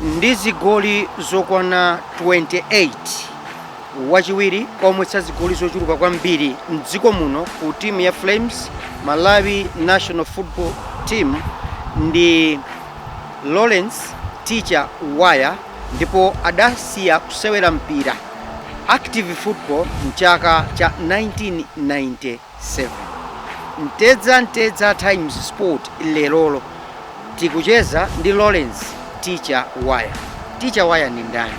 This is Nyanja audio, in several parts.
ndi zigoli zokwana 28, wachiwiri kwa omwetsa zigoli zochuluka kwambiri m'dziko muno ku timu ya Flames, Malawi National Football Team ndi Lawrence Teacher Waya. ndipo adasiya kusewera mpira, active football, m'chaka cha 1997. Mtedza Mtedza Times Sport Lerolo tikucheza ndi Lawrence Teacher Waya. Teacher Waya ndi ndani?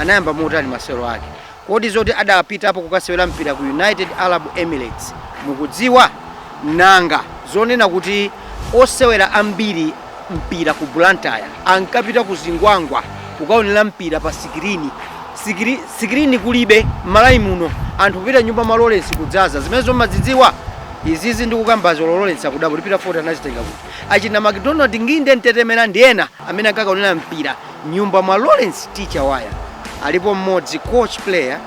Anayamba motani masewero ake? Kodi zoti adapitapo kukasewera mpira ku United Arab Emirates mukudziwa? Nanga zonena kuti osewera ambiri a mpira ku Blantyre ankapita ku Zingwangwa kukaonera mpira pa sikirini, sikirini kulibe m'Malawi muno, anthu kupita m'nyumba mwa Lawrence kudzaza, zimenezo mumazidziwa? Izizi ndikukambazi olo Lawrence akudabwa kuti Peter Fote anazitenga kuti? Achina MacDonald Nginde, Mtetemera ndi ena amene ankakaonera mpira m'nyumba mwa Lawrence Teacher Waya alipo mmodzi coach player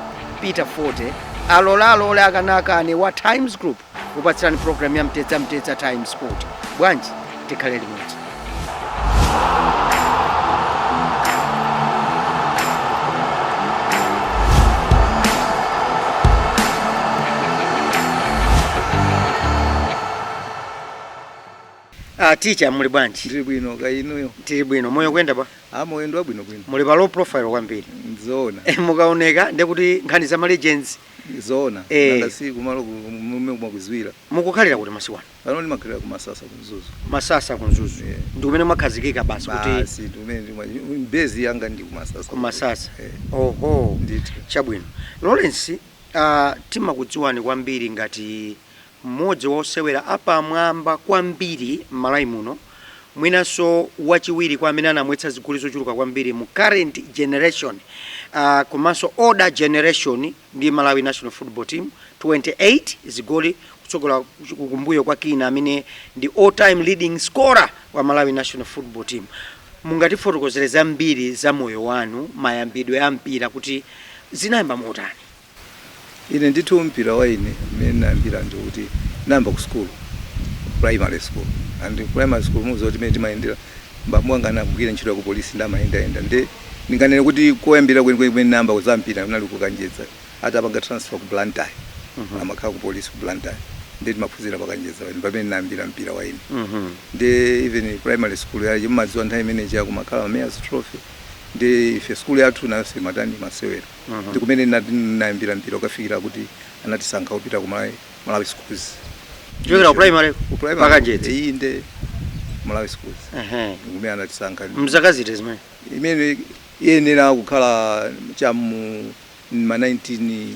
Peter Fote alola alole akana akane wa Times Group kupatsirani program ya mtedza mtedza Times Sport bwanji tikhale limodzi Ah, teacher muli bwanji? Ndili bwino kaya inuyo. Tili bwino. Moyo kuyenda bwa? Ah, moyo ndi wabwinobwino. Muli pa low profile kwambiri. Nzoona. Eh, mukaoneka ndiye kuti nkhani za ma legends Nzoona. Eh. Nanga si kumalo komwe umakudziwira. mukukhalira kuti masiku ano. Pano ndimakhalira ku Masasa ku Mzuzu. Masasa ku Mzuzu. Yeah. Ndi kumene mwakhazikika basi kuti Basi ndi kumene ndima base yanga ndi ku Masasa. ku Masasa. Eh. Oho. Ndithu. Chabwino. Lawrence, ah, timakudziwani kwambiri ngati Mmodzi wa osewera apamwamba kwambiri m'Malawi muno mwinanso wachiwiri kwa amene anamwetsa zigoli zochuluka kwambiri mu current generation komanso older generation ndi Malawi National Football Team, 28 zigoli kutsogola kumbuyo kwa Kinnah amene ndi all time leading scorer wa Malawi National Football Team. Mungatifotokozere zambiri za moyo wanu, mayambidwe a mpira kuti zinayamba motani? Ine ndithu mpira wa ine mmene ndinayambira ndi kuti ndinayamba ku school, ku primary school and ku primary school mukudziwa kuti mmene timayendera bambo anga anagwira ntchito ya ku police ndiye amayendayenda ndiye ndinganene kuti koyambirira kwenikweni kumene ndinayamba ku za mpira kunali ku Kanjedza atapanga transfer ku Blantyre amakhala ku police ku Blantyre ndiye timaphunzira pa Kanjedza pamene pamene ndinayambira mpira wa ine ndiye even primary school ija mumadziwa nthawi imene ija kumakhala ma mayor's trophy ndiye ife school yathu nayonso imatani imasewera Mhm. ndi kumene natani nayambira mpira kukafikira kuti anatisankha kupita ku malawi malawi schools Kuchokera ku primary Ku primary. pa Kanjedza inde malawi schools Ehe. ndi kumene anatisankha mzaka ziti zimenezi imene iyenera kukhala chamu ma 19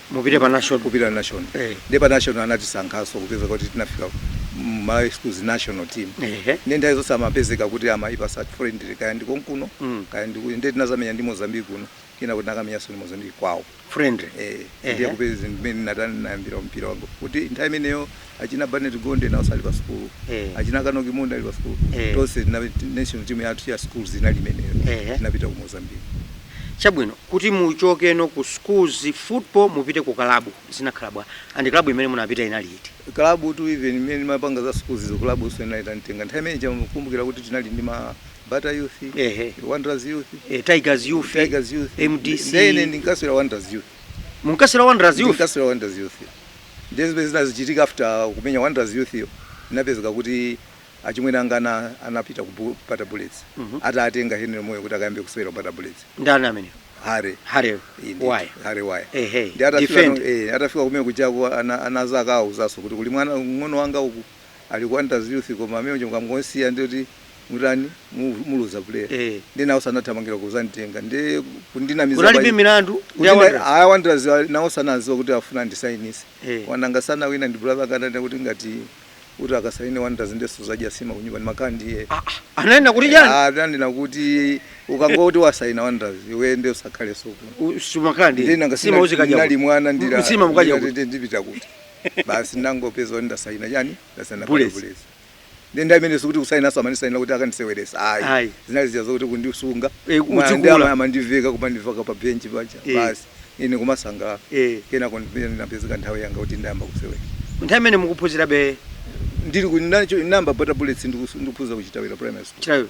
mupite pa national kupita national eh ndi pa national anatisankhaso kupezeka kuti tinafika mu Malawi schools national team ehe ndi nthawi zonse amapezeka kuti amatipatsa friendly kaya ndi konkuno Mm. kaya ndi kuno ndi tinazamenya ndi Mozambique kuno kenako ti nakamenyaso ndi Mozambique kwawo friendly eh Ehe. ndiye kupeza mmene natani nayambira mpira wanga kuti nthawi imeneyo achina Barnet Gondwe naonso ali pa sukulu eh. achina Kinnah Phiri Munde ali pa sukulu eh. tonse national team yathu ya schools inali imeneyo eh. tinapita ku Mozambique chabwino kuti muchokeno ku schools football mupite ku kalabu zinakhala bwa and kalabu imene munapita inali iti kalabu tu even mmene timapanga za schools zo kalabunso inali itanditenga nthawi imene ija mukukumbukira kuti tinali ndi ma bata youth eh, eh. wanderers youth eh, tigers youth tigers youth mdc ndiye ine ndinkasewera wanderers youth munkasewera wanderers youth ndinkasewera wanderers youth Ndiye zimene zinazichitika after kumenya Wanderers Youth yo inapezeka kuti achimwene anga ana anapita ku Bu- Bata Bullets atatengedwa ndi Henry Moyo kuti akayambe kusewera ku Bata Bullets. ndani amene Harry Harry-yo Indeed. Waya Harry Waya. Ehe, Ndi atafika defend. no- eh, atafika kumene kujaku ana anazakawauzanso kuti kuli mwana mng'ono wanga uku Ali ku Wanderers Youth koma amene uja mukamngosiya ndiye kuti mutani mu- muluza player. Eh. Ndiye nawonso anathamangira kuzanditenga. Ndiye kundinamiza Kunalibe pa- milandu ndi Kuti na- Wanderers. aya Wanderers ali- nawonso anaziwa kuti afuna ndisainise. Eh. Anakangana wina ndi brother akatanda kuti ngati kuti ukasaine Wanderers ndiye suzadya nsima kunyumba ndimakhala ndiye. Ah, ah, Ananena kuti chani? Ah, ananena kuti ukangoti wasaina Wanderers iwe ndiye usakhalenso kuno. Sumakandi. ndinanga Nsima uzikadya. nali mwana ndilira Nsima mukadya. kuti. ndipita kuti basi ndangopeza kuti ndasayina chani ndasayina Bullets. Bullets. ndi nthawi imene ija sikuti kusayinanso amandisayinira kuti akandiseweretsa Ayi. ayi zinali zija zokuti kundisunga Eh, Kumati udzikula. ama- amandiveka kumandiika pa benchi paja Eh. basi ine kumasangalala Eh. kenako ndimene ndinapezeka nthawi yanga kuti ndayamba kusewera nthawi imene mukuphunzirabe ndili ku- nacho- ndayamba bata bullets ndikus- ndikuphunzira ku Chitawira primary school Chitawira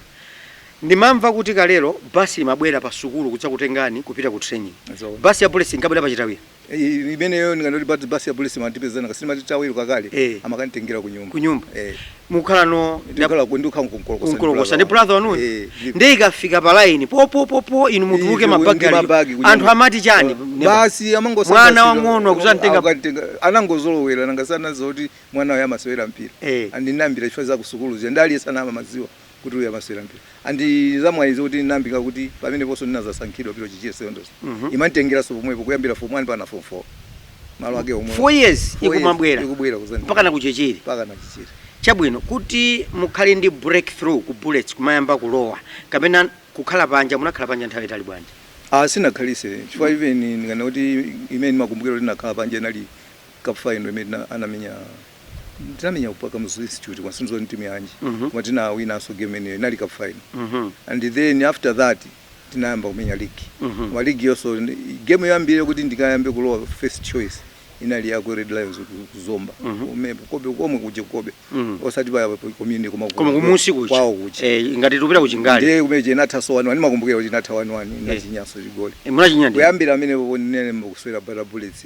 ndimamva kuti kalelo basi imabwera pa sukulu kudzakutengani kupita ku training Zoona. basi ya polisi inkabwera pa Chitawira imeneyo ndikangoti basi ya police matipeza nanga si timati Chitawira kalekale Eh. amakanditengera ku nyumba kunyumba eh mukhala no ndikhala ku ndikhala ku Nkolokosa ku Nkolokosa ndi brother wanuyo eh ndipo- ndiye ikafika pa line popopopo inu mutuluke Inu, mabagi ndi aliyo. mabagi kunyumba. anthu amati chani neba? basi amangodabwa Mwana silo- wang'ono akudzamtenga- akukatenga anangozolowera nanga si anadziwa kuti mwana uyu amasewera mpira Eh. and ndinayambira chifukwa za kusukulu zija ndiye anali asana amadziwa kuti uyu amasewera mpira and zamwayinso ndinayambika kuti pameneponso ndinadzasankhidwa pa Chichiri secondary imanditengeranso pomwepo kuyambira form 1 mpaka form 4 malo ake omwe Four years Four years ikumabwera. ikubwera kudzani mpakana ku Chichiri mpakana Chichiri chabwino kuti mukhale ndi breakthrough ku bullets kumayamba kulowa kapena kukhala panja munakhala panja nthawi yaitali bwanji ah sindinakhalitse chifukwa even ndikanena kuti imene ndimakumbukira kuti ndinakhala panja inali cup final imene tina- anamenya ndinamenya ku Kamuzu Institute koma sindidziwa ndi timu yanji Mhm. koma tinawinanso game imeneyo inali cup final Mhm. and then after that tinayamba kumenya league Mhm. koma league yonso ni- game yoyambirira kuti ndikayambe kulowa first choice inali ya ku red lions ku- ku zomba Mhm. Kume- Cobbe komwe kuja Cobbe Mhm. osati pa pa community koma ku- koma kumunsi kuja kwawo kuja Eh, ngati tupita ku Chingale ndiye kumene kuja inathanso wani wani ndimakumbukira kuti inatha wani wani ndinachinyanso chigoli munachinya ndi kuyambira mmene mukusewera bata bullets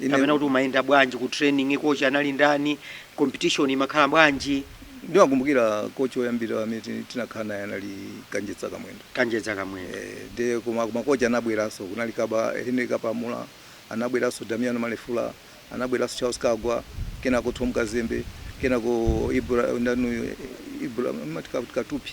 Ine- kapena kuti umayenda bwanji ku training kochi anali ndani competition imakhala bwanji ndimakumbukira kochi oyambira amene ti- tinakhala naye anali kanjedza kamwendo kanjedza kamwendo Eh, ndiye koma makochi anabweranso kunali kaba henry kapamula anabweranso damiano malefula anabweranso charles kagwa kenako tom kazembe kenako Ibra- ndani Ibra- mati Ka- katupi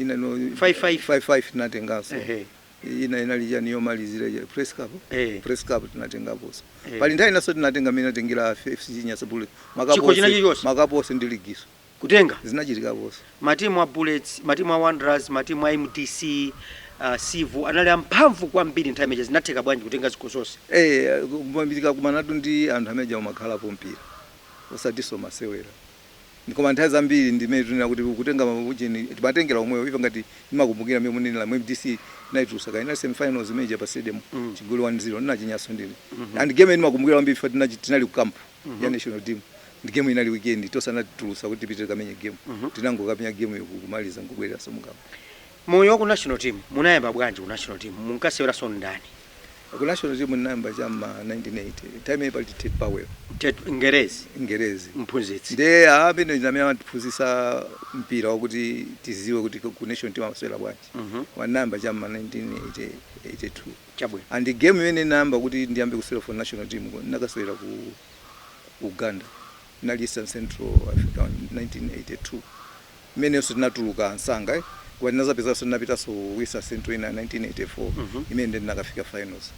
ina no 55 55 tinatenganso ehe ina inali chani yomalizira ya press cup eh press cup tinatengaponso Eh. pali nthawi inanso tinatenga mene atengera FCB Nyasa Bullets Chikho china chilichonse? makapo onse ndi liginso kutenga zinachitikaponso matimu a bullets matimu a wanderers matimu a mdc uh, Civo anali amphamvu kwambiri nthawi imeneyo zinatheka bwanji kutenga zikho zonse eh kumangolimbikira kumana ndithu ndi anthu amene aja umakhalapo mpira osatinso masewera ndi koma nthawi zambiri ndi mmene tikunena kuti kutenga ma ujeni timatengera omwewo ife ngati ndimakumbukira mmene mukunenera MDC tinaitulutsa inali semifinals imene ija pa stadium mm. chigoli 1-0 ndinachinyanso ndine mm -hmm. and game ndimakumbukira kwambiri ife tinali tinali ku camp mm -hmm. ya national team and game inali weekend anatitulutsa kuti tipite tikamenye game mm -hmm. tinangokamenya game ija kumaliza nkubwereranso mu camp Moyo waku national team munayamba bwanji ku national team munkaseweranso ndani? Ku national team ndinayamba cha mma 1980 time imene pali Ted Powell. Ted ngerezi Ngerezi mphunzitsi. ndiye amene ndi amene anatiphunzitsa mpira wakuti tidziwe kuti ku national team amasewera bwanji. Mhm. Ndinayamba cha mma 1982 Chabwino. and game imene ndinayamba kuti ndiyambe kusewera for national team ndinakasewera ku Uganda. Inali East and Central Africa 1982 imenenso tinatuluka nsanga eh koma tinazapezekanso tinapitanso ku East and Central ina 1984 imene nde tinakafika finals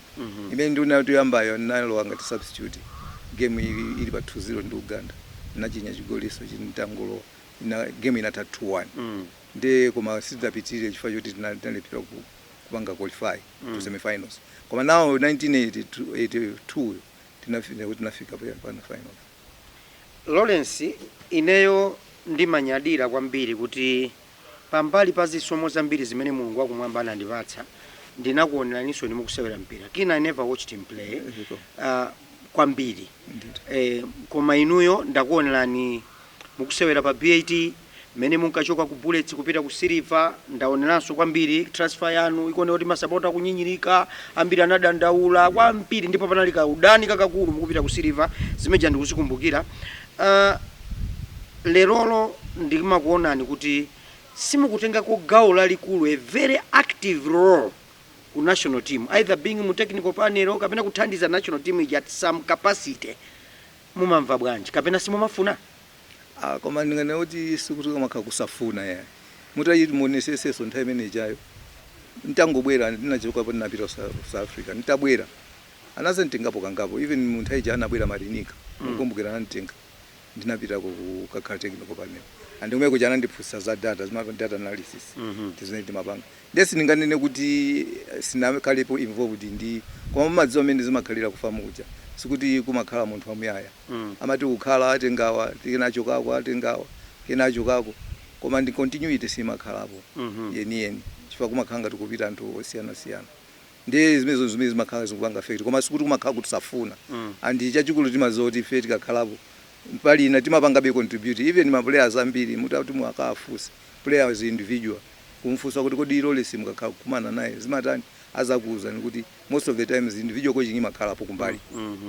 imene ndinati yoyambayo ndinalowa ngati substitute game ili, ili pa 2 0 ndi Uganda ndinachinya chigolinso chi nditangolowa ina game inatha 2 1 nde koma sitidapitirire chifukwa choti tina- tinalephera ku kupanga qualify to semifinals koma now 1982 yo tinafika kuti tinafika pa pano finals Lawrence, ineyo ndimanyadira kwambiri kuti pambali pa zisomo zambiri zimene Mulungu wakumwamba anandipatsa ndinakuoneraninso inu mukusewera mpira kina I never watched him play uh, kwambiri Ndithu. eh, koma inuyo ndakuonerani Mukusewera pa BAT mmene munkachoka ku Bullets kupita ku Silver ndaoneranso kwambiri transfer yanu ikuoneka kuti masapota akunyinyirika ambiri anadandaula kwambiri ndipo panali kaudani kakakulu mukupita ku Silver zimene zija ndikuzikumbukira uh, lerolo ndimakuonani kuti simukutengako gawo lalikulu a very active role ku national team either being mu technical panel kapena kuthandiza national team ija at some capacity Mumamva bwanji? Kapena simumafuna? Ah koma ndinganene kuti sikuti kumakhala kusafuna yayi. Mutati muonesetsenso nthawi imene ijayo n'tangobwera ndinachokapo ndinapita ku South Africa. N'tabwera anadzanditengapo kangapo even mu nthawi ija anabwera Marinica mukukumbukira ananditenga ndinapitako kukakhala technical panel and kumene kuja anandiphunzitsa za data, data analysis ndi zimene timapanga. Nde sindinganene kuti sindinakhalepo involved ndi koma mumadziwa mmene zimakhalira ku FAM kuja sikuti kumakhala munthu wamuyaya amati ukhala atenga awa ena achokako atenga awa ena achokako koma nde continuity simakhalapo yeniyeni chifukwa kumakhala ngati kupita anthu osiyanasiyana nde zimenezo zimene zimakhala zikupanga affect koma sikuti kumakhala kuti safuna and chachikulu timadziwa kuti ife tikakhalapo mbali ina timapangabe contribute even ma players ambiri mutati muwakafunse player as individual Kumfunsa kuti kodi Lawrence mukakhala kukumana naye zimatani azakuuzani kuti most of the times individual coaching imakhalapo kumbali.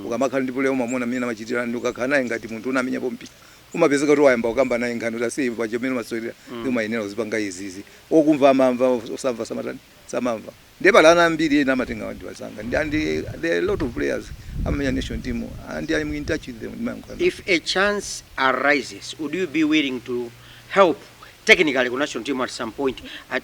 Ukamakhala ndi player umamuona mmene amachitira and ukakhala naye ngati munthu unamenyapo mpira umapezeka kuti wayamba kukamba naye nkhani kuti ase iwe paja mmene umasewerera umayenera uzipanga izi izi. Okumva amamva osamva samatani? Samamva. Ndiye pali ana ambiri ena amanditenga anzanga ndi and there are a lot of players amamenya national team and I'm in touch with them ndimayankhula nawo. If a chance arises would you be willing to help technically ku national team at some point at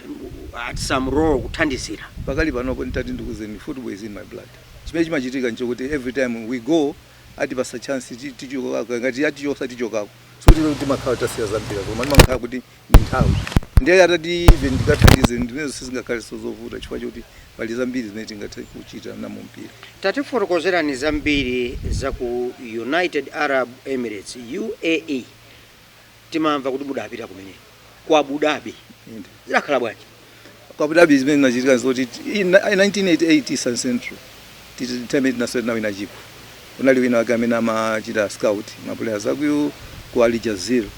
at some role kuthandizira? Pakali panopo nditati ndikuuzeni football is in my blood. Chimene chimachitika nchokuti every time we go atipatsa chance tichoka akati atichotsa tichokako. Sikuti timakhala tasiya za mpira koma timakhala kuti ndi nthawi ndiye atati ati even ndikathandize zimenezo sizingakhalenso zovuta chifukwa choti pali zambiri zimene tingathe kuchita nawo mumpira tatifotokozerani zambiri za ku united arab emirates uae timamva kuti mudapita kumeneko ku abu dhabi Inde. zidakhala bwanji Ku Abu Dhabi zimene zinachitika nzoti i- in 1988 East and Central ti timu tinasewera tinawina chikho kunali wina wake amene amachita scout mapuleya a ku UAE ku Al Jazira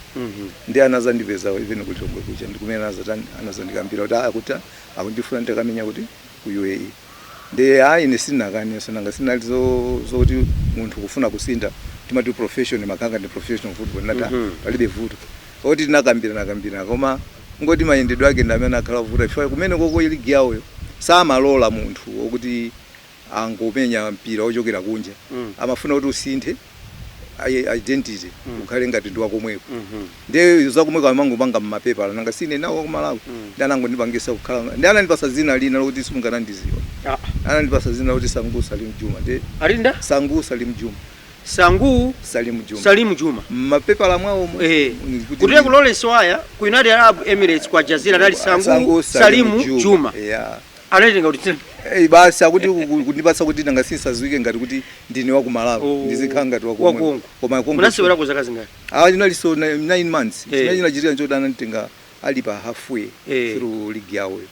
ndiye anazandipeza even ku Lilongwe kuja ndikumene anazatani anazandikambira kuti ah, akuti ah, akundifuna nditakamenya uku ku UAE ndiye ayi ine sindinakaneso nanga si inali zo zoti munthu kufuna kusintha timati profession mwa kukhala ndi professional football ndati mm -hmm. palibe vuto poti tinakambiranakambirana koma kungoti mayendedwe ake ndi amene anakhala ovuta chifukwa kumeneko uko ligi yawoyo samalola munthu okuti azingomenya mpira ochokera kunja mm. amafuna kuti usinthe i- identity Mm. ukhale ngati ndi wakomweko Mhm. ndiye zakomweko amangopanga mmapepala nanga si ine ndine wakumalawi Mm. ndiye anangondipangisa kukhala ndi anandipasa dzina lina lokuti simungandiziwe Ah, anandipasa dzina lokuti sangu salim juma ndiye analemba sangu salim juma sangu salim juma salimu juma mmapepala mwawomo Eh, ndi kuti kunalibeko Lawrence waya ku united arab emirates kwa al jazira anali sangu salimu juma yeah Analitenga kuti tsi- Eh, basi akuti ku- ku- kundipatsa kuti nanga si ndisadziwike ngati kuti ndine wa ku malawi Oh, ndizikhala ngati wa wakonko. Konko. komwe konko- Munasewerako zaka zingati? Ah, ndinaliko na- nine months Eh. chimene chinachitika nchoti ananditenga ali pa halfway Eh. through league yawoyo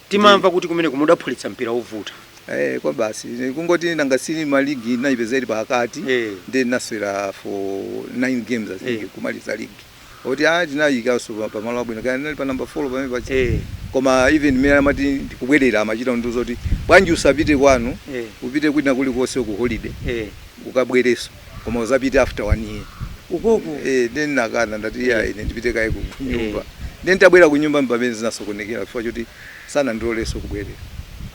Timamva kuti kumeneko mudaphulitsa mpira wovuta. Eh, kwabasi Eh, kungoti nanga si ine ma ligi ndinayipeza ili pakati Eh. ndiye ndinasewera for nine games i think Eh. kumaliza ligi kuti ah tinayikaso pa- pamalo abwino kaya tinali pa namba 4 pamene paja eh koma even mmene ndimati ndikubwerera amachita kundiuza kuti bwanji usapite kwanu eh upite kwina kulikonse ku holiday eh ukabwereso koma uzapite after one year ukoko eh then ndinakana ndati Eh. ya ine ndipite kaye ku ku nyumba then nditabwera ku nyumba mpamene zinasokonekera chifukwa choti sanandiloleso kubwerera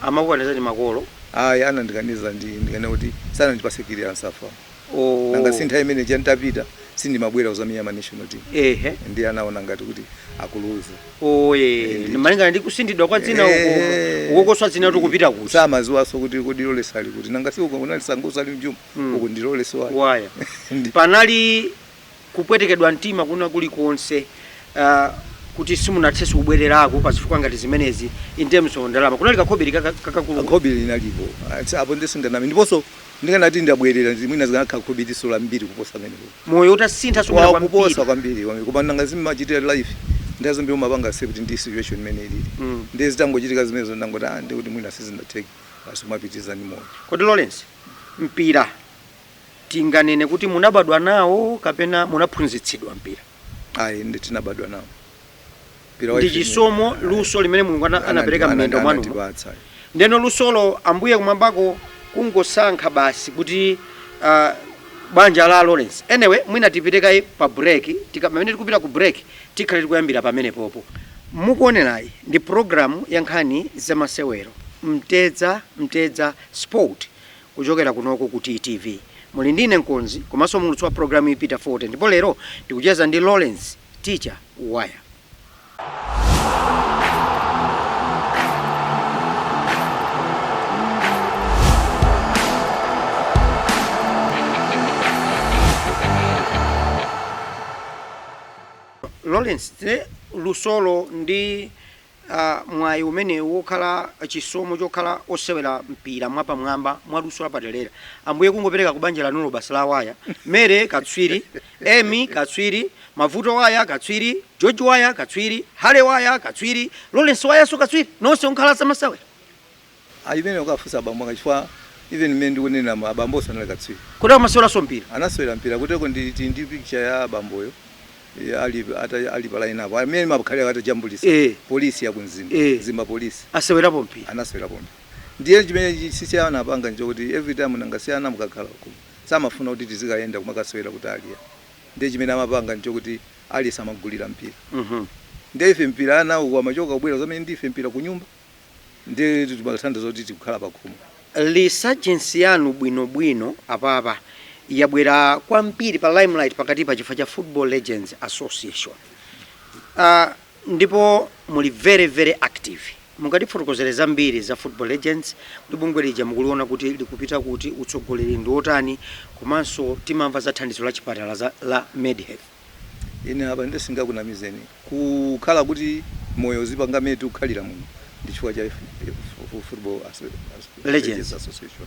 anakukanizani makolo ayi anandikaniza ndi ndikunena kuti sanandipase clearance a FA Ooo. Nanga si nthawi imene ija ntapita sindimabwera kuzamenya ma national team. Ehe. Ndiye anaona ngati kuti akuluza. Ooo ee. Eh, ndithu. Malingana ndi kusinthidwa kwa dzina uko. Ehe. Ukokoso dzina ndikupita kuti. Samaziwaso kuti kodi Lawrence ali kuti. Nanga si uko kunali Sangu Salim Juma. Mm. Uku ndi Lawrence Waya. Waya. Ndi- Panali Kupwetekedwa mtima kwina kulikonse uh, kuti simunathenso kubwererako pa zifukwa ngati zimenezi in terms of ndalama kunali kakhobiri kakakulu khobiri linalipo apo nde sindinganame ndiponso ndikanati ndinabwerera mwina likanakhala khobiriso lambiri kuposa limenelo moyo ukanasinthaso mwina kuposa kwambiri kwambiri koma nanga zimachitika mu life ndi zambiri umapanga accept ndi situation imene ilili mm. ndi zitangochitika zimenezo ndangoti ah ndikuti mwina sizinatheke basi kumapitiriza ndi moyo kodi Lawrence mpira Tinganene kuti munabadwa nawo kapena munaphunzitsidwa mpira? Ayi, inde tinabadwa nawo. Ndi chisomo, luso limene Mulungu anapereka m'miyendo mwanumo. Ndeno lusolo Ambuye kumwambako kungosankha basi kuti ah, banja la Lawrence. Anyway, mwina tipite kaye pa break. Tika, pamene tikupita ku break, tikhale tikuyambira pamene popo. Mukuonerayi ndi programu ya nkhani za masewero, Mtedza Mtedza Sport. Kuchokera kunoko ku TTV muli ndi ine mkonzi komanso mulutsi wa pulogalamuyi Peter Fote ndipo lero tikucheza ndi Lawrence Teacher Waya. Lawrence, lusolo ndi a mwayi umene wokhala chisomo chokhala osewera mpira mwapamwamba mwa luso lapadelera ambuye kungopereka ku banja lanulo basi la waya Mary katswiri Emmie katswiri mavuto waya katswiri george waya katswiri Harry waya katswiri lawrence wayanso katswiri nonse nkukhala zamasewera Ayi imeneyo ukafunse abambo anga chifukwa even mmene ndikuneneramu abambowo sanali katswiri. Kodi amaseweranso mpira? Anasewera mpira kutereko ndili ndi picture ya abamboyo eh, ali ata ali pa line up amene amakhala atajambulitsa Eh. polisi ya ku Mzimba Eh. Mzimba polisi Asewerapo mpira. anasewerapo mpira ndiye chimene chi- si si anapanga nchokuti every time nanga si ana mukakhala ku samafuna kuti tizikayenda kumakasewera kutali ya ndiye chimene amapanga nchokuti aliyense amagulira mpira Mhm. ndiye ife mpira ana uko amachoka kubwera zimene ndife mpira kunyumba ndiye timathandiza kuti tikukhala pakhomo. Resurgence yanu bwino bwino apapa yabwera kwambiri pa limelight pakatipa chifukwa cha Football Legends Association. Uh, ndipo muli very very active mungatifotokozere zambiri za Football Legends kuti bungwe lija mukuliona kuti likupita kuti utsogoleri ndi wotani komanso timamva za thandizo la chipatala za, la Medhealth. Ine apa sindingakunamizeni kukhala kuti moyo uzipanga mene tikukhalira muno ndi chifukwa cha football legends association.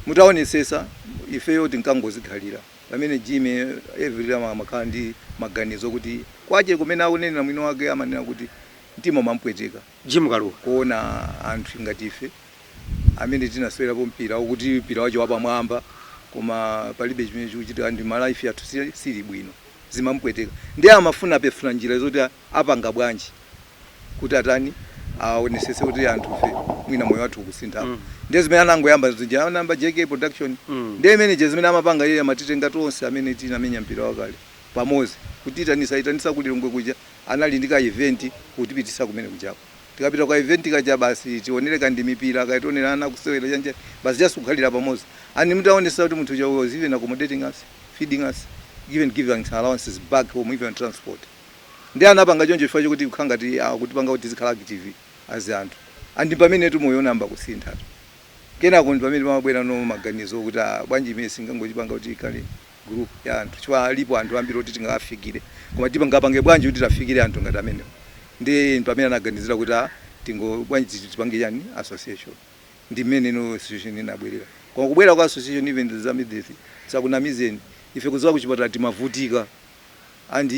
Mutaonetsetsa ifeyo tinkangozikhalira pamene Jimmy every time amakhala ndi maganizo okuti kwache kumene akunena mwini wake amanena kuti mtima umampweteka. Jim Kalua. Kuona anthu ngati ife amene tinasewerapo mpira okuti mpira wache wapamwamba koma palibe chimene chikuchitika ndi ma life athu sili bwino zimamupweteka ndiye amafuna kufuna njira zoti apanga bwanji kuti atani awonesese kuti anthufe mwina moyo wathu ukasinthepo ndiye zimene anangoyamba zija anayamba JK production ndiye imene ija zimene amapanga iyeyo amatitenga tonse amene tinamenya mpira wakale pamozi kutiitanisa aitanisa ku Lilongwe kuja anali ndi ka event kutipitisa kumene kujako tikapita kuka event kaja basi tionele ka ndi mipira kaya tionele ana akusewera chanchani basi just kukhalira pamozi and mutaonesa kuti munthu uja was even accommodating us feeding us even giving us allowances back home even transport nde anapanga choncho chifukwa chokuti kukhala ngati akutipanga kuti tizikhala active as anthu and mpamene tu moyo unayamba kusintha kenako ndipamene pamabwelano maganizo okuti aah bwanji imeyi singangochipanga kuti ikhale group ya anthu chifukwa alipo anthu ambiri oti tingawafikire koma tingapange bwanji kuti tiwafikire anthu ngati amenewo ndiye pamene anaganizira kuti a tingo bwanji tipange chani association ndi mmeneno association inabwerera koma kubwera kwa association even za MedHealth sakunamizeni ife kuzowa kuchipatala timavutika And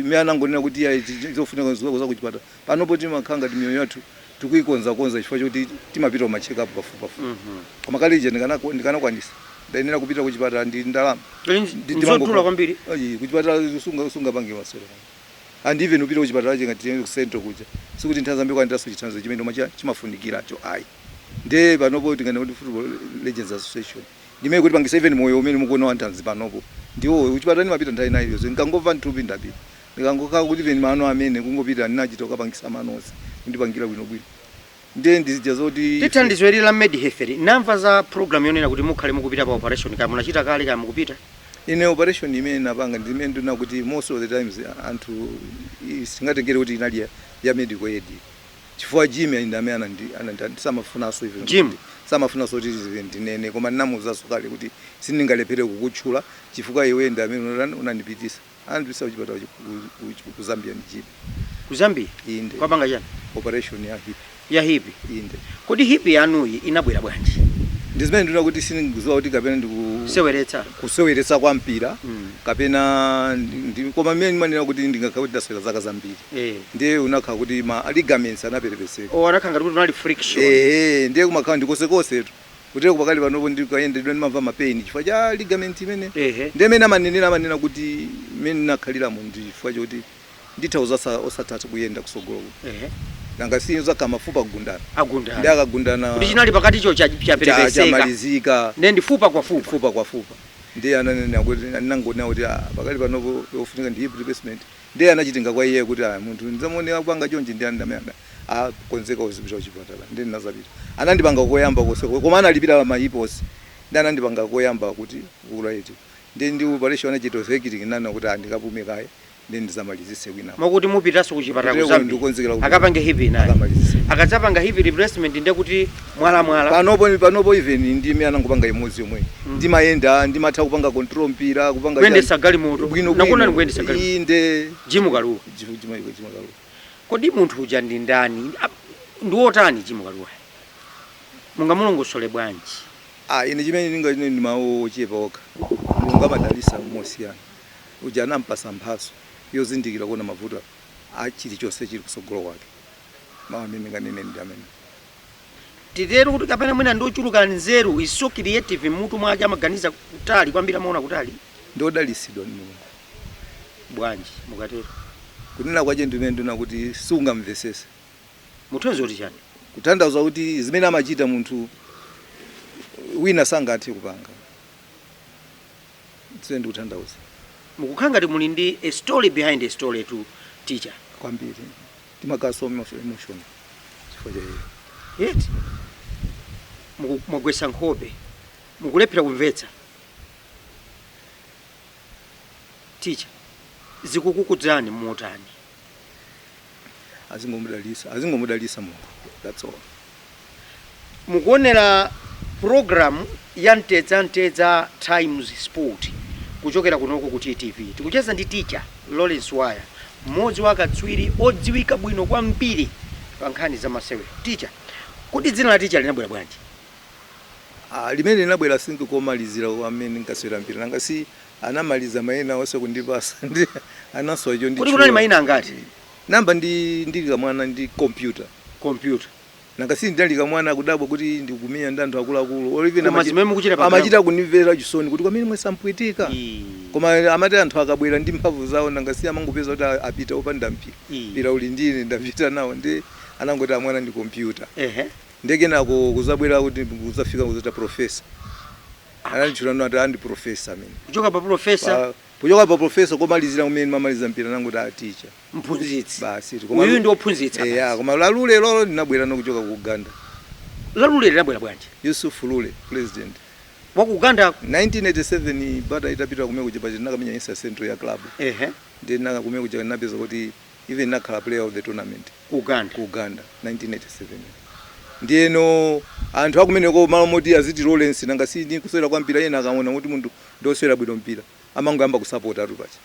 mene anangonena kuti iyayi zofunika nzokakonza kuchipatala panopo timakhala ngati miyoyo yathu tikuikonzakonza chifukwa choti timapita kuma check up pafupipafupi koma kale ija ndikanako- ndikanakwanisa ndayenera kupita kuchipatala ndi ndalama Ndi- Nzodula ndimangokhala- kwambiri. Ayi, kuchipatala sunga- sungapange masewera and even upita kuchipatala cha ngati tiende ku central kuja sikuti nthandizo ambiri kwandaso chithandizo chimene umachita chimafunikiracho ayi nde panopo tinganene kuti football legends association Ndimene ikutipangisa even moyo umene mukuona wa nthanzi panopo ndiwo kuchipatala ndimapita nthawi ina iliyonse ndikangova nthupi ndapita ndikangokhala kuti even mano amene kungopita ndinachita kukapangisa mano onse kundipangira bwinobwino ndiye ndi zija zoti Ndi ife thandizo ili la MedHealth li, ndamva za program yonena kuti mukhale mukupita pa operation kaya munachita kale kaya mukupita? Ine operation imene ndinapanga ndi imene ndinena kuti most of the times anthu isingatengere kuti inali ya ya medical aid. chifukwa jimmy ndamene anandi- anandi- samafunanso even Jim? kuti- samafunanso kuti izi ndinene koma ndinamuuzanso kale kuti sindingalephere kukutchula chifukwa iwe ndi amene unatani unandipitisa anandipitisa kuchipatala chi- ku- ku- ku zambia ndi jimmy ku zambia inde kukapanga chani operation ya hip ya hipi inde kodi hipi yanuyi inabwera bwanji ndi zimene ndinena kuti sindikuziwa kuti kapena ndikuseweretsa kuseweretsa kwa mpira Mm. kapena ndi- ndi- koma mmene ndimanena kuti ndingakhale kuti ndasewera zaka zambiri Eh. ndiye unakhala kuti ma ligaments anaperepeseka Oh, anakhala ngati kuti unali friction. ehe ndiye kumakhala ndikosekosetu kutereku pakali panopo ndikayenda ndimamva mapeni chifukwa cha ligament imene Ehe. ndiye mene amanenera amanena kuti mene ndinakhaliramo ndi chifukwa choti nditha kuzatha osathatha kuyenda kusogolo kuno Ehe. nanga si uzakhala mafupa agundana ndi Agundana. akagundana Kuti chinali pakati cho cha- cha- chaperepeseka. chamalizika Ndiye ndifupa kwa fupa. fupa kwa fupa ndiye ananena kuti anangonena kuti "Ah, pakali panopo yofunika ndi hip replacement Ndiye anachita ngati kwa iye kuti, Ah, munthu ndidzamuone akupanga chonchi ndi amene anandikonzekera kupita kuchipatala. Ndiye ndinazapita. Anandipanga koyamba konse ko, koma analipira ma hip onse. Ndiye anandipanga koyamba kuti kukula eti. Ndiye ndi operation anachita orthekilling ndinanena kuti ah, ndikapume kaye ndiye ndizamalizitse kwinako. Moti mupitanso kuchipatala ku Kutereku Zambia ndikukonzekera kuti akapange hip inayi. akamalizitse. Akadzapanga hip replacement ndiye kuti. mwala mwala panopo panopo even ndi mmene anangopanga imodzi yomwe mm. ndimayenda ndimatha kupanga control mpira kupanga kuyendesa galimoto bwino nakhoza ndikuyendesa galimoto inde jimu kaluwa jimu jimu jimu kaluwa kodi munthu uja ndi ndani ndi wotani jimu kaluwa mungamulongosole bwanji ah ine chimene ninganene ndi mawu ochepa okha mulungu amadalisa mosiyana uja anampasa mphaso yozindikira kuona mavuto a chilichonse chili kusogolo kwake mawu amene ninganene ndi amene titero kuti kapena mwina ndi ochuluka nzeru he's so creative m'mutu mwake amaganiza kutali kwambiri amaona kutali ndi odalitsidwa ndi mulungu bwanji mukatero kunena kwache ndimene ndinena kuti sungamvesese muthonzi kuti chani kutanthauza kuti zimene amachita munthu wina sangathe kupanga zimene ndikutanthauza mukukhala ngati muli ndi a story behind a story to teacher kwambiri timakhala so much emotional chifukwa cha iye eti muku- mwagwetsa nkhope mukulephera kumvetsa teacher zikukukudzani motani azingomudalisa azingomudalisa mulungu that's all Mukuonera program ya mtedza mtedza times sport kuchokera kunoko ku TTV. Tikucheza ndi teacher Lawrence Waya, mmodzi wa akatswiri odziwika bwino kwambiri pa nkhani za masewero. Teacher, kodi dzina la teacher linabwera bwanji? Ah, limenelo linabwera think komalizira kwa amene ndinkasewera mpira nanga si anamaliza maina onse kundipasa ndi anasowa Kodi kunali chonchi munali mayina angati? Nayamba ndi ndili kamwana ndi computer. Computer. Nanga si ndinali kamwana akudabwa kuti ndikumenyana ndi anthu akuluakulu or even Koma zimene mukuchita pa amachita ground. kundimvera chisoni kuti kameneka sakapweteka. Ii. Koma amati anthu akabwera ndi mphamvu zawo nanga si amangopeza kuti a- apita opanda mpira. Ii. Mpira uli ndi ine ndapita nawo ndi anangoti ah mwana ndi computer. Ehe. Ndiye kenako kuzabwera kuti kuzafika kuziti professor. Ananditchulano ati ah ndi professor amene. Kuchoka pa professor Pa- Kuchoka pa professor komalizira kumene ndimamaliza mpira ndiye anangoti ah teacher. Mphunzitsi. Basitu. Koma Uyu lu- ndi ophunzitsa. Eya, basi. koma la Lule lo linabwera nokuchoka ku Uganda. La Lule linabwera bwanji? Yusuf Lule, president. Wa ku Uganda. 1987 Bata itapita kumene kuja paja ndinakamenya East and Central ya club. Ehe. Ndiye ndinaka kumene kuja ndinapeza kuti even ndinakhala player of the tournament. Ku Uganda. ku Uganda 1987 ndiyeno anthu a kumeneko malo moti aziti Lawrence nanga si ndi kusewera kwa mpira ena akaona kuti munthu ndi osewera bwino mpira amangoyamba kusapotatu paja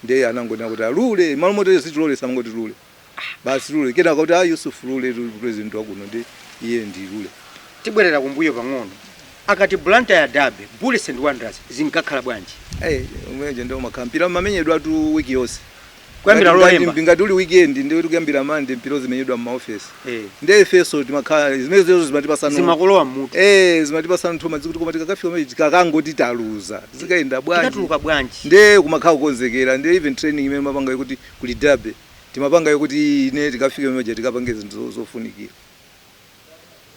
ndiye anangonena kuti "Ah, lule malo moti aziti Lawrence amangoti lule Ah, basi lule kenaka kuti ah yusuf lule tu- president wakuno ndi iye ndi lule tibwerera kumbuyo pang'ono akati Blantyre derby bullets and wanderers zinkakhala bwanji Eh, umene uja ndiye umakhala mpira umamenyedwatu wiki yonse kuyambira Ngati- lolemba ngati- ngati uli weekend ndiye tikuyambira Monday mpira uzimenyedwa m'maofesi Eh. ndiye ifeso timakhala zimenezo zimatipasano zimakalowa mmutu eh zimatipasa nthumazi kuti koma tikakafika mechi kakangoti taluza zikayenda bwanji tikatuluka bwanji ndiye kumakhala kukonzekera ndiye even training imene mumapanga kuti kuli derby timapanga kuti ine tikafike mechi tikapange zinthu zo- zofunikira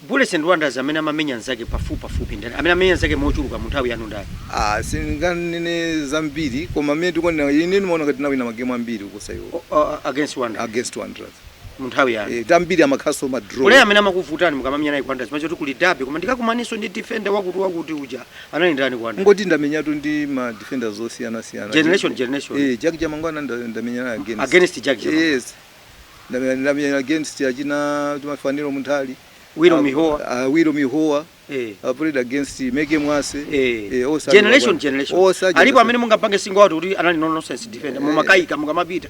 Bullets and Wanderers amene amamenya nzake pafupi pafupi ndani? Amene amenya nzake mochuluka mu nthawi yanu ndani? Ah, sindinganene zambiri koma mmene ndikuonera ine ndimaona ngati tinawina magemu ambiri kuposa iwo O- o- Against Wanderers against Wanderers. mu nthawi yanu. Eh, ambiri amakhalaso ma draw. Player amene amakuvutani mukamamenya naye ku Wanderers mumachoti kuli derby koma ndikakumananso ndi defender wakuti wakuti uja anali ndani ku Wanderers? Kungoti ndamenyatu ndi ma defenders osiyana siyana. Generation, generation. Eh, Jack Chamangwana nda- ndamenya naye against. Against Jack Chamangwana. Yes. Ndamenya ndamenya against achina Chuma Fanuel Munthali. Wiro Ah, Mihowa. ah, Wiro Mihowa. Eh. I played against Meke Mwase. Eh, Eh, osa- generation generation Osa- alipo generation. amene mungapange single out kuti anali no nonsense defender mumakayika mukamapita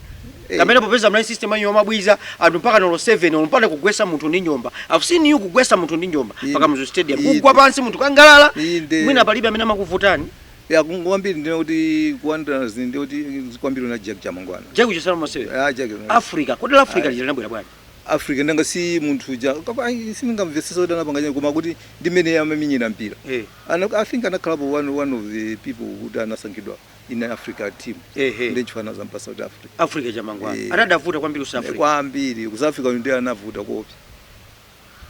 Eh. kamene popeza munali system yanu yomabwiza anthu mpaka olo 7 olo mpaka kugwesa munthu ndi njomba i've seen you kugwesa munthu ndi njomba Inde. pa Kamuzu Stadium Inde. kugwa pansi munthu kusangalala Inde. mwina palibe amene amakuvutani Ya kungoti kwambiri ndinene kuti ku Wanderers ndi kuti kwambiri ndi Jack Chamangwana. Jack uchisana mose. Ya Jack. Africa. Kodi la Africa lija linabwera bwanji. Africa ndanga si munthu uja. Kapena ayi sindingamvesese kuti anapanga chani koma kuti ndi mmene amamenyera mpira. Eh. Ana I think anakhalapo one one of the people who anasankhidwa in Africa team. Eh eh. Ndi chifukwa anazampasa South Africa. Africa Chamangwana. Eh. Anakavuta kwambiri ku South Africa. Kwambiri. Ku South Africa ndiye anavuta koopsa.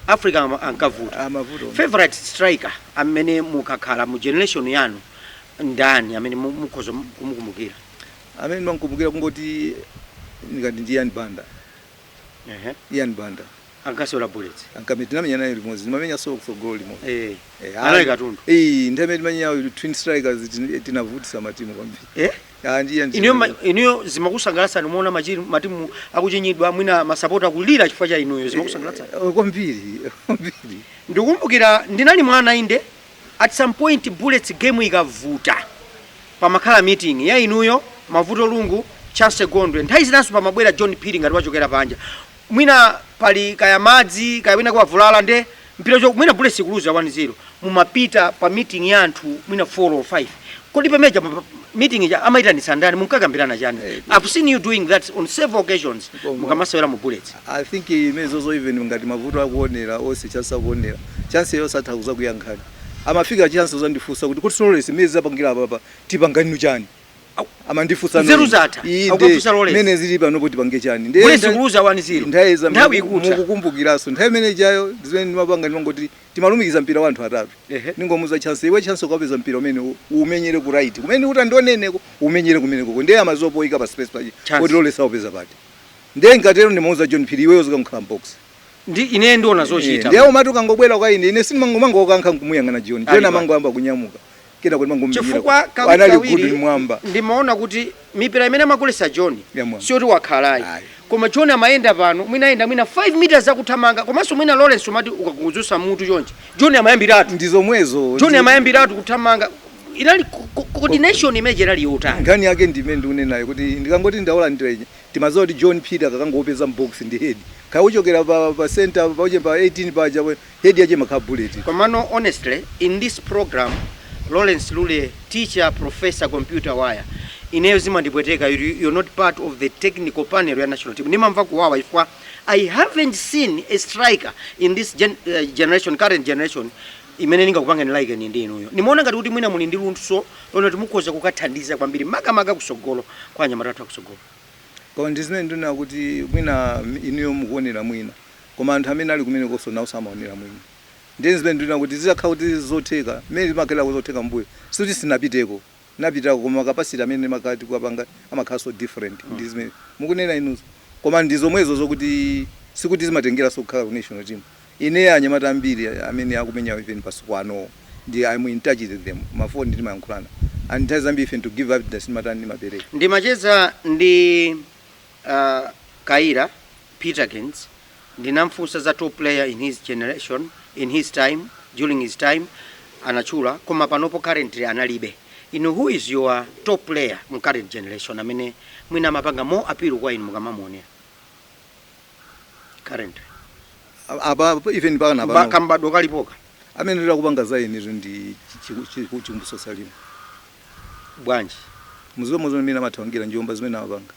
africa am- ankavuta Ah, amavuta. favorite striker amene mukakhala mu generation yanu ndani amene mu- mukhoza kumukumbukira amene ndimamkumbukira kungoti ndikati ndi ian banda Ehe. ian banda ankasewera bullets kamene tinamenya naye limodzi ndimamenya so kutsogolo limodzi Eh, Eh, anali katundu Eh, nthawi imene timamenyayo twin strikers tin- tinavutisa matimu kwambiri Eh? Ah, ndiye ndiye. inuyo ma- inuyo zimakusangalatsani mumaona machi- matimu akuchinyidwa mwina masapota akulira chifukwa cha inuyo zimakusangalatsani Eh, kwambiri kwambiri ndikukumbukira ndinali mwana inde at some point bullets game ikavuta pamakhala meeting ya inuyo mavuto lungu chancy gondwe nthawi zinanso pamabwera john phiri ngati wachokera panja mwina pali kaya madzi kaya winako wavulala nde mpira uchoke mwina bullets ikuluza 1 0 mumapita pa meeting ya anthu mwina 4 or 5 kodi pameja pa- pa- meeting ija amaitanitsa ndani munkakambirana chani Eh, i've seen you doing that on several occasions Koma. mukamasewera mu bullets i think zimenezozo even ngati mavuto akuonera olonso chancy akuonera chancy onse atha kuzakuyankhani amafika chancy kuzandifunsa kuti kuti so Lawrence mmene zapangira apapa tipangenu chani amandifusa nzeru zatha akufusa Lawrence mene zili panopo tipange chani ndiye Bullets ikuluza wani zero nthawi za nthawi ikutha mukukumbukiraso nthawi imene ijayo zimene ndimapanga ndimangoti timalumikiza mpira wanthu atatu ningomuza chance iwe chance ukapeza mpira umene umenyere ku right kumene kuti ndioneneko umenyere kumenekoko ndiye amazopoika pa space paja kuti Lawrence aupeza pati ndiye nkatero ndimuuza John Phiri iweyo uzikakhala mbox ndi ine ndiona zochita ndiye umati ukangobwera kwa ine ine sindimangomangokankha nkumuyang'ana John John amangoyamba kunyamuka kenako ndimangomenyera chifukwa anali good kawirikawiri mmwamba ndimaona kuti mipira imene amagolesa john Ya mwamba. siyoti wakhala ayi. koma john amayenda pano mwina ayenda mwina 5 meters akuthamanga komanso mwina lawrence umati ukangozusa mutu chonchi john amayambiratu ndi zomwezo john amayambiratu kuthamanga inali co- co- coordination imene inali yotani nkhani yake ndimene ndikunenayo kuti ndikangoti ndaulandira timaziwa kuti john peter akakangopeza mbox ndi head kaya kuchokera pa, pa center pauche pa 18 paja we- Head yache imakhala bullet. Komano honestly in this program Lawrence Lule teacher, professor, computer Waya ineyo zimandipweteka kuti you're not part of the technical panel ya national team ndimamva kuwawa chifukwa I haven't seen a striker in this gen generation current generation imene ndingakupangeni liken ndi inuyo. Ndimaona ngati kuti mwina muli ndi luntso lonena kuti mukhoza kukathandiza kwambiri makamaka kusogolo kwa anyamata athu akusogolo. Koma ndizimene ndunena kuti mwina inuyo mukuonera mwina. Koma anthu amene ali kumenekonso nawonso amaonera mwina. Ndiye zimene ndinena kuti zitakhala kuti zotheka, mmene zimakhalira zotheka m'mbuyo, sikuti sitinapiteko, tinapitako koma ma capacity amene timakhala tikuwapanga amakhalanso different ndi zimene mukunena inuzo. Koma ndi zomwezo zokuti sikuti zimatengeranso kukhala ku national team. Ine anyamata ambiri amene akumenyawo even masiku anowo ndi I am in touch with them, ma phone timayankhulana and nthawi zambiri even to give updates ndimatani, ndimapereka. Ndimacheza ndi. A Kayira, Peterkins, ndinamfunsa za top player in his generation, in his time, during his time, anatchula koma panopo currently analibe. Inu who is your top player mu current generation amene mwina amapanga more appeal kwa inu mukamamuonera currently apa apa even mpaka Mba- napano kambadwo kalipoka amene ndakupanga za ine ndi Chikumbutso Salima bwanji muziwe muziona mene amathamangira njomba zimene amapanga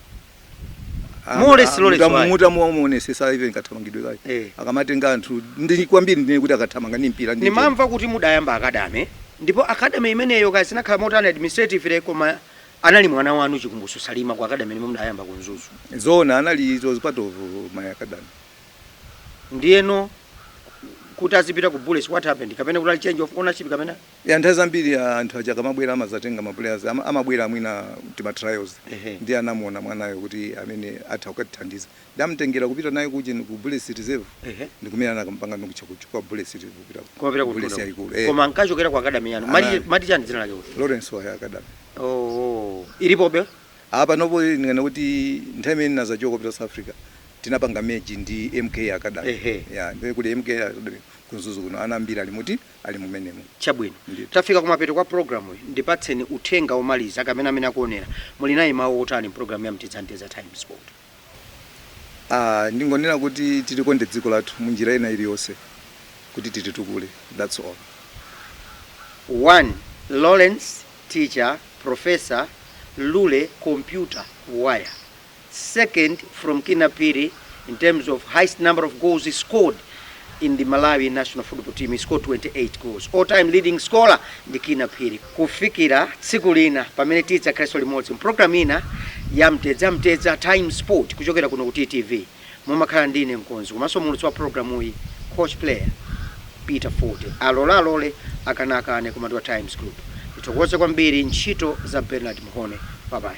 Ah, More or less, ah, less, mutamu- why? mutamuonesesa even kathamangidwe kake Eh. akamatenga anthu ndi kwambiri ndine kuti akathamanga ndi mpira ndi njomba. nimamva kuti mudayamba academy ndipo academy imeneyo kaya zinakhala motani administratively koma anali mwana wanu chikumbutso salima ku academy yomwe mudayamba ku Mzuzu zona anali it was part of my academy ndiyeno kuti azipita ku bullets what happened kapena kuti inali change of ownership kapena Ya nthawi zambiri anthu aja akamabwera amazatenga ma player amabwera mwina tima trials Ehe. ndi anamuona mwanayo kuti ameneyu atha kukatithandiza nde anamtengera kupita naye kujen ku Bullets Reserve Ehe. ndi kumene anakampanga ndi kucha kuch- kwa Bullets Reserve kupita ku- kumapita ku ku Bullets Mtondo. yaikulu eh koma ankachokera ku akadami yanu Ana- mati chani dzina lake kuti Lawrence wa Academy oh ilipobe panopo ndikanene kuti nthawi imene ndinazachoka kupita South Africa tinapanga merge ndi MK Academy Ehe. ya nde kuti MK Academy ku Mzuzu kuno ana ambiri alimo ali mumenemo. Chabwino. Ndithu. Tafika kumapeto kwa pulogalamuyi. Ndipatseni uthenga womaliza kwa amene akuonera. Muli nawo mawu otani m'pulogalamu ya Mtedza Mtedza Times Sport? Ah, ndingonena kuti tilikonde dziko lathu munjira ina iliyonse kuti tititukule. That's all. 1, Lawrence Teacher Professor Lule Computer Waya. second from Kinnah Phiri in terms of highest number of goals scored in the Malawi national football team. He scored 28 goals. All time leading scorer ndi Kinnah Phiri. Kufikira tsiku lina pamene tidzakhalenso limodzi mprogramu ina ya Mtedza Mtedza Times Sport kuchokera kuno ku TTV. Mumakhala ndi ine mkonzi komanso mulutsi wa programuyi coach player Peter Fote. Alole alole akane akane koma ndiwa Times Group. Ndithokoze kwambiri ntchito za Bernard Mhone. Bye bye.